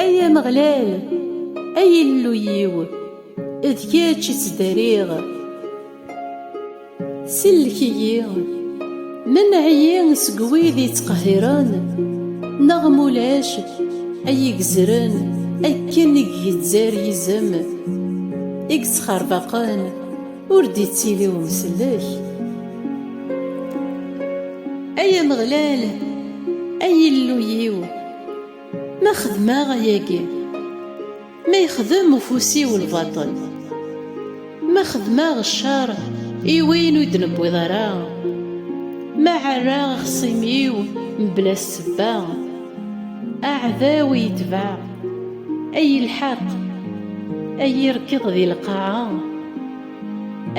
Ay Ameɣlal, ay Illu-iw, d kečč i ttdariɣ. Sellek-iyi, menɛ-iyi seg wid yettqehhiren, neɣ ma ulac ay igezzren akken i igezzar yizem, i yettxerbaqen, ur d-ittili umsellek. Ay Ameɣlal, ay Illu-iw! Ma xedmeɣ ayagi, ma yexdem ufus-iw lbaṭel, ma xedmeɣ ccer i win ur d-newwiḍ ara, ma ɛerraɣ axṣim-iw mebla ssebba, aɛdaw i yetbeɛ, a yi-lḥeq, a yi-rekkeḍ di lqaɛa.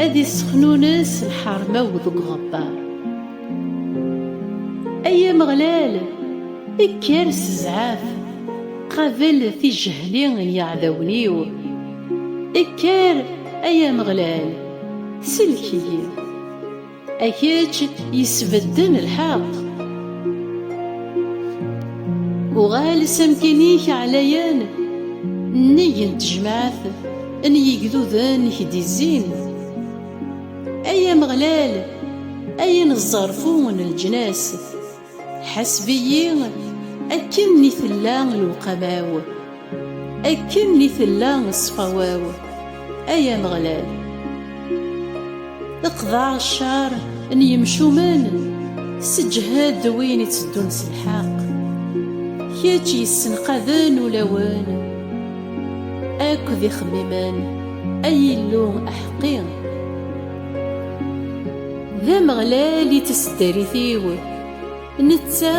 Ad issexnunes lḥerma-w deg uɣebbar. Ay Ameɣlal, kker s zzɛaf, qabel tijehli n yiɛdawen-iw. Kker, ay Ameɣlal, sellek-iyi. A kečč yesbedden lḥeqq. Uɣal s amkin-ik ɛlayan, nnig n tejmaɛt n yigduden i k-d-izzin. Ay Ameɣlal, ay ineẓẓerfu n leǧnas. Ḥaseb-iyi akken mi tella lewqama-w, akken mi tella ṣṣfawa-w, ay Ameɣlal. Qḍeɛ ccer n yemcumen, sseǧhed win itteddun s lḥeqq. Kečč yessenqaden ulawen akked ixemmimen, ay Illu aḥeqqi. D Ameɣlal i taseddarit-iw, netta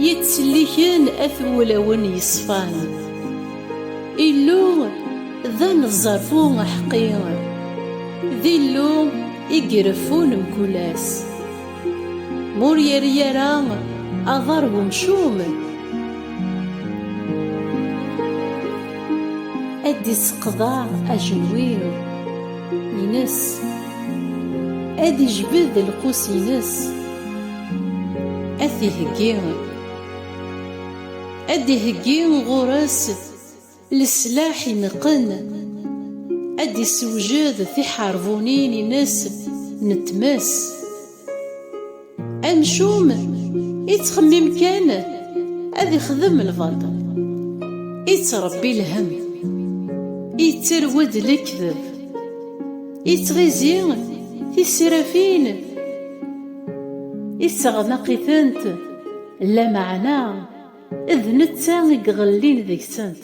yettselliken at wulawen yeṣfan. Illu d aneẓẓerfu aḥeqqi, d Illu i ireffun mkul ass. Ma ur yerri ara aḍar n umcum, ad d-iseqḍeɛ ajenwi-ines. ad ijbed lqus-ines ad t-iheggi ad d-iheggi ɣur-s leslaḥ ineqqen ad d-issewjed tiḥerbunin-ines n tmes. Anecum ittxemmim kan ad ixdem lbaṭel, ittrebbi lhem, itterwed lekdeb, ittɣizi tisrafin, ittaɣnaq-itent, lameɛna d netta i iɣellin deg-sent.